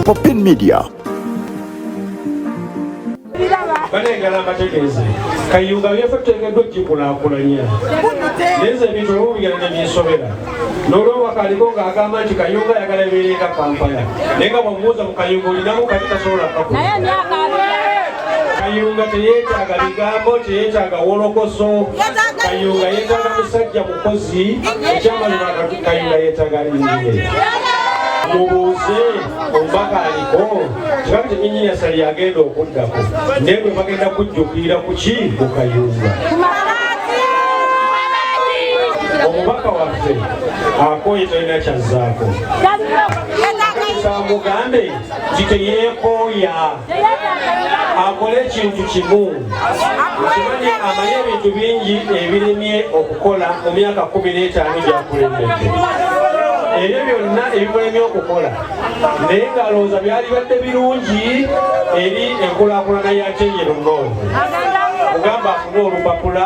Popin Media. banengala mbategeeze kayunga byefe tuteekeddwa okgikulaakulanya naye nze ebintu olumu bigenda ne binsobera n'olwobaka aliko ng'agamba nti kayunga ayagala ebeere nga kampala naye nga bwamubuuza mu kayunga olinamu kati tasobola kaku kayunga teyeetaaga bigambo teyeetaaga wolokoso kayunga yeetaaga musajja Kozi ekyama kayinga yetaga nyinyi mubuuze omubaka aliko kiba nti engineer sali agenda okuddako naye bwe bagenda kujjukirira ku ki ku kayunga omubaka waffe akooye talina kyazzaako mugambe nti teyeekooya akole ekintu kimu okimanyi amanyi ebintu bingi ebirimye okukola mu myaka kumi n'etaano gyakulembedde ebyo byonna ebimulemye okukola naye ng'alowooza byalibadde birungi eri enkulakulana ya kyenyi lunoozi mugamba afune olupapula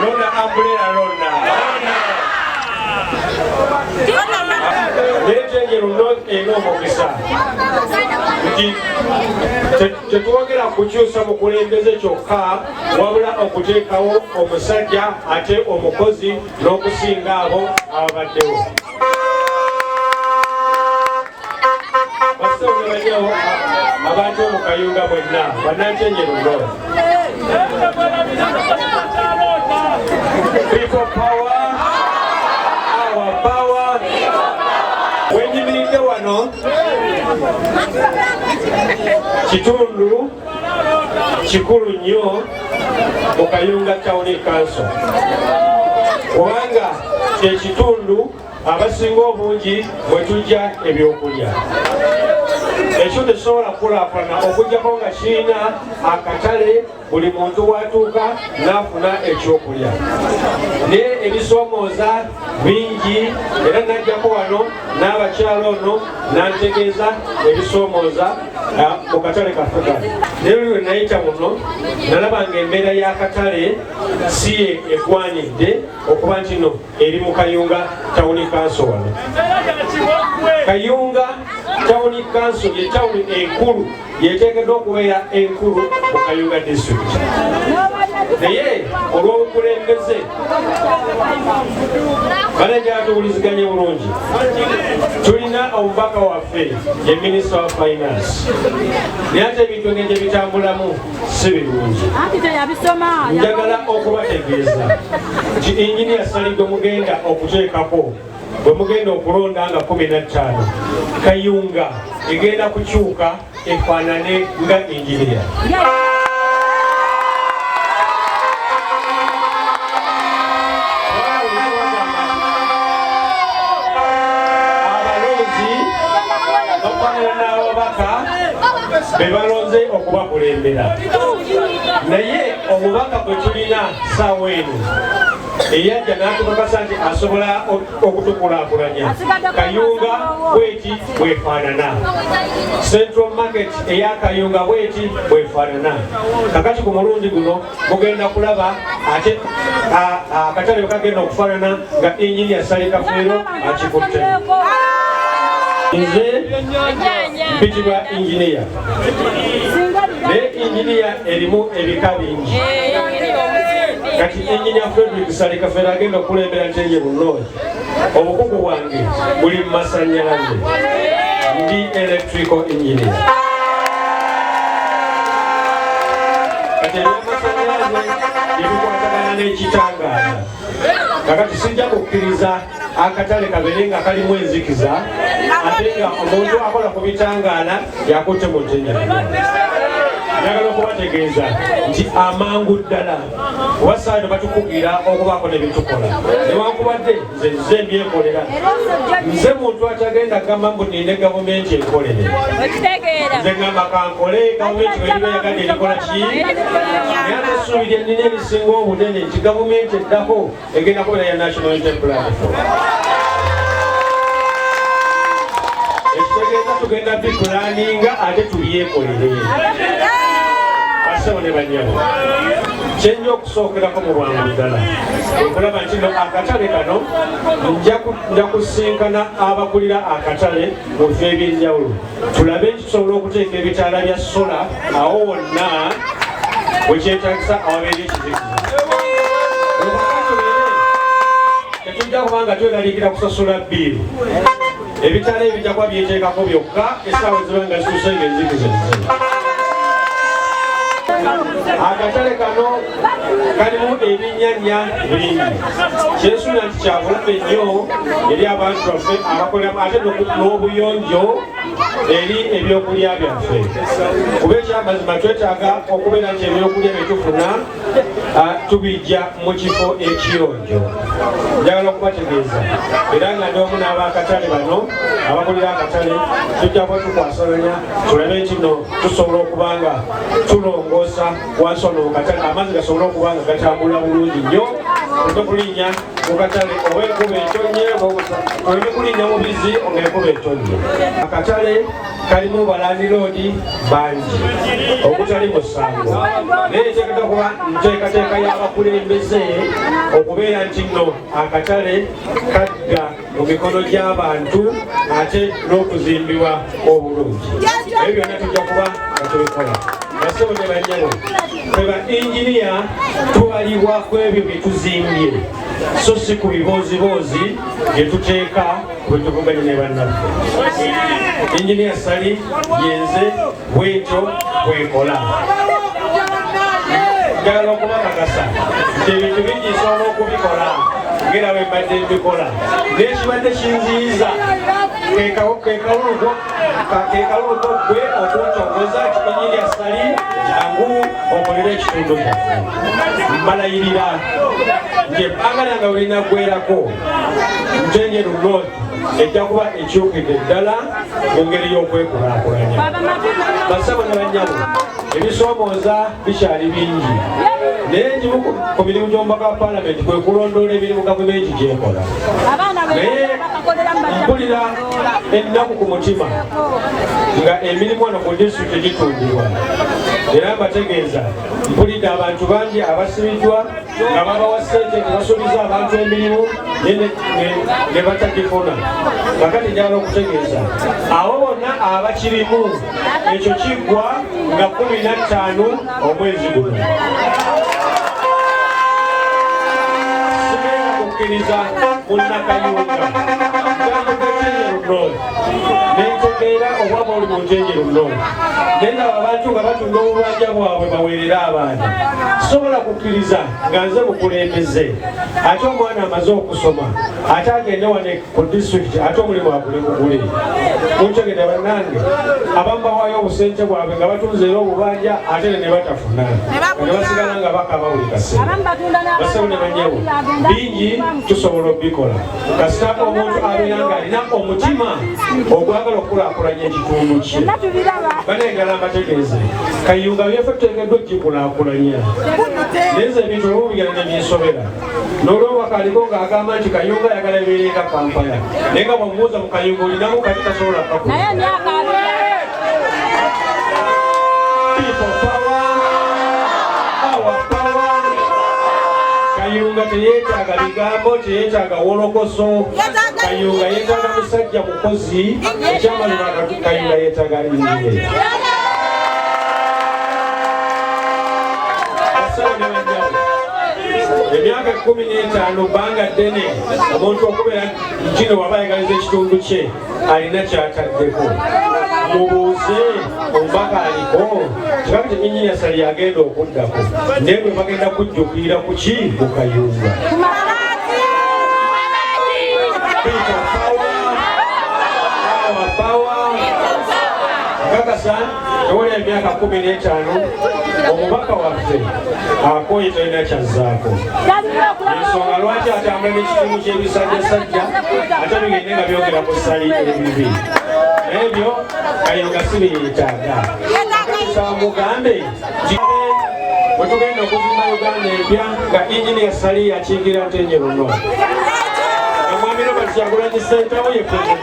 lona ambulera lona netenjeru not ena omukisa nti tetwogera kukyusa mukulembeze kyokka wabula okuteekawo omusajja ate omukozi n'okusinga abo ababaddewo abantu mu kayunga bwenna banantenye lugo People power, our power. Wenyimiridde wano kitundu kikulu nnyo mu Kayunga Town Council kubanga kyekitundu abasinga obungi bwe tujja ebyokulya ekyo tekisobola kukulaakulana okujjako nga kirina akatale buli muntu watuuka n'afuna ekyokulya naye ebisoomooza bingi era najjako wano n'abakyala ono n'antegeeza ebisoomooza mu katale kaffe kano naye luli lwe nayita muno nalaba nga embeera y'akatale si ye egwanidde okuba ntino eri mu kayunga tawuni kanso wano kayunga tawuni kanso ye tawuni enkulu yeteekeddwa okubeera enkulu mu kayunga district naye olw'obukulembeze banajala tuwuliziganye bulungi tulina omubaka waffe ye minisita wa finance naye ate ebintu engeri gye bitambulamu si birungi njagala okubategeeza nti inginiya saligwe mugenda okuteekako bwe mugenda okulonda nga 15 kayunga egenda kukyuka efaanane nga inginiya bebalonze okubakulembera naye omubaka gwe tulina saawa eno eyajja n'atukakasa nti asobola okutukulakulanya kayunga bweti bwefaanana central market eya kayunga bweti bwefaanana kakati ku mulundi guno mugenda kulaba ate akatale kagenda okufanana nga enginia sali kafeero akikutte nze mpitibwa enginia naye enginia erimu ebika bingi kati enginia fredrik sali kafeero agenda okukulembera nteye bunooyi obukugu bwange buli mu masanyalaze ndi electrical engineer kati ebyamasanyalaze ebikwatagana n'ekitangaala kakati sijja kukkiriza akatale kabeere nga kalimu enzikiza ate nga omuntu akola ku bitangaala yakutte mu ntenjaa njagala okubategeeza nti amangu ddala oba saano batukugira okubaako nebitukola newankubadde nze nze mbyekolera nze muntu atagenda gamba mbu ninde gavumenti ekolere nze gamba kankole gavumenti weribeyagadde erikola ki naye atesuubira nina ebisinga obunene nti gavumenti eddako egenda kubeera ya National Unity Platform. Ekitegeeza tugenda bipulaninga ate tubyekolere basebo ne banyabo kyenja okusookerako mu bwangu ddala okulaba nti no akatale kano nja kusinkana abakulira akatale mu bifo ebyenjawulo tulabe nti tusobola okuteeka ebitaala bya sola awo wonna wekyetagisa awabeera ekizikiza tetujja kubanga tweralikira kusasula biiru ebitaala ebijja kuba byeteekako byokka esaawa ziba nga zisusa nga enzikiza akatale kano kalimu ebinyanya bingi kyesuula nti kyabulabe nnyo eri abantu baffe abakoleramu ate n'obuyonjo eri ebyokulya byaffe kuba ekyamazima twetaaga okubeera nti ebyokulya byetufuna tubijja mu kifo ekiyonjo njagala okubategeeza era nga ndomu n'abaakatale bano abakulira akatale tujja kuba tukwasalanya tulabe nti no tusobola okuba nga tulongoosa wasono mu katale amazzi gasobole okuba nga gatambula bulungi nnyo oleme kulinnya mu katale oba enkuba etonnye oleme kulinnya mu bizzi oba enkuba etonnye akatale kalimu balandiroodi bangi okutali mu ssango naye eteekata kuba nteekateeka y'abakulembeze okubeera nti nno akatale kadda mu mikono gy'abantu ate n'okuzimbibwa obulungi ebyo byonna tujja kuba nga tubikola basebo ne banyabo fe ba inginiya tubalibwa ku ebyo bye tuzimbye so si ku bibooziboozi bye tuteeka bwe tuvuganye ne bannaffe inginiya sali yenze bwentyo bwekola njagala okubakakasa nti ebintu bingi nsobola okubikola ngera bwe mbadde mbikola nekibadde kinziyiza kekaluluko gwe okuntongoza kikinyi lya sali jangu okolera ekitundu kyaffe mbalayirira nti ebbanga lyange bwerinaggwerako njenje lunot ejja kuba ekyukidde ddala mu ngeri y'okwekulaakulanya basabo ne banyabo ebisoomooza bikyali bingi naye egimu ku mirimu gy'omubaka wa palamenti kwe kulondoola emirimu gavumenti gyekola naye mpulira ennaku ku mutima nga emirimu eno ku disitulikiti gitundibwa era mbategeeza mpulidde abantu bangi abasibiddwa nga babawa sente tebasuubiza abantu emirimu ne batagifuna kakati njagala okutegeeza abo bonna abakirimu ekyo kiggwa nga kumi na ttaano omwezi guno kukkiriza munnakayunga nentegeera obwa bwoli bunjengero nno nenda abantu nga batunda obubanja bwabwe baweerere abaana sobola kukkiriza nga nze bukulembeze ate omwana amaze okusoma ate agende wane ku disitulikiti ate omulimu agule mugule muntegede bannange abamu bawaayo obusente bwabwe nga batunze era obubanja ate ne ne batafuna ne basigala nga bakaba buli kaseera basewo ne banyawo bingi tusobola obikola kasita omuntu abeera ng'alina omutima ogwagala okukulaakulanya ekitundu kye banayegala mbategeeze kayunga byefe tuteekeddwa okikulaakulanya neze ebintu olumu bigenda ne binsobera n'olwobakaliko ng'agamba nti kayunga ayagala ebeere nga kampala naye nga bwamubuuza mu kayunga olinamu kati tasobola kakula kayunga teyetaaga bigambo teyetaaga wolokoso kayunga yetaaga musajja mukozi ekyamazima kayunga yetaaga injiniya emyaka kumi n'etaano bbanga ddene omuntu okubeera kino waba ayagaliza ekitundu kye alina kyataddeko mubuuze omubaka aliko kirabe teminyinya sali yagenda okuddako naye bwe bagenda kujjukirira ku ki mukayumba Peter Power, Power, Power, Kaka San. ewali emyaka kumi n'etaano omubaka waffe akooye talina kyazzaako ensonga lwaki atambula n'ekitundu ky'ebisajjasajja ate bigende nga byogera ku ssali ebibi ebyo ayo nga si byeyetaaga nsaba mugambe wetugenda okuzimba uganda empya nga enginia sali yakiikira ntenye luno omwami robert kyagulanyi sentawo ye president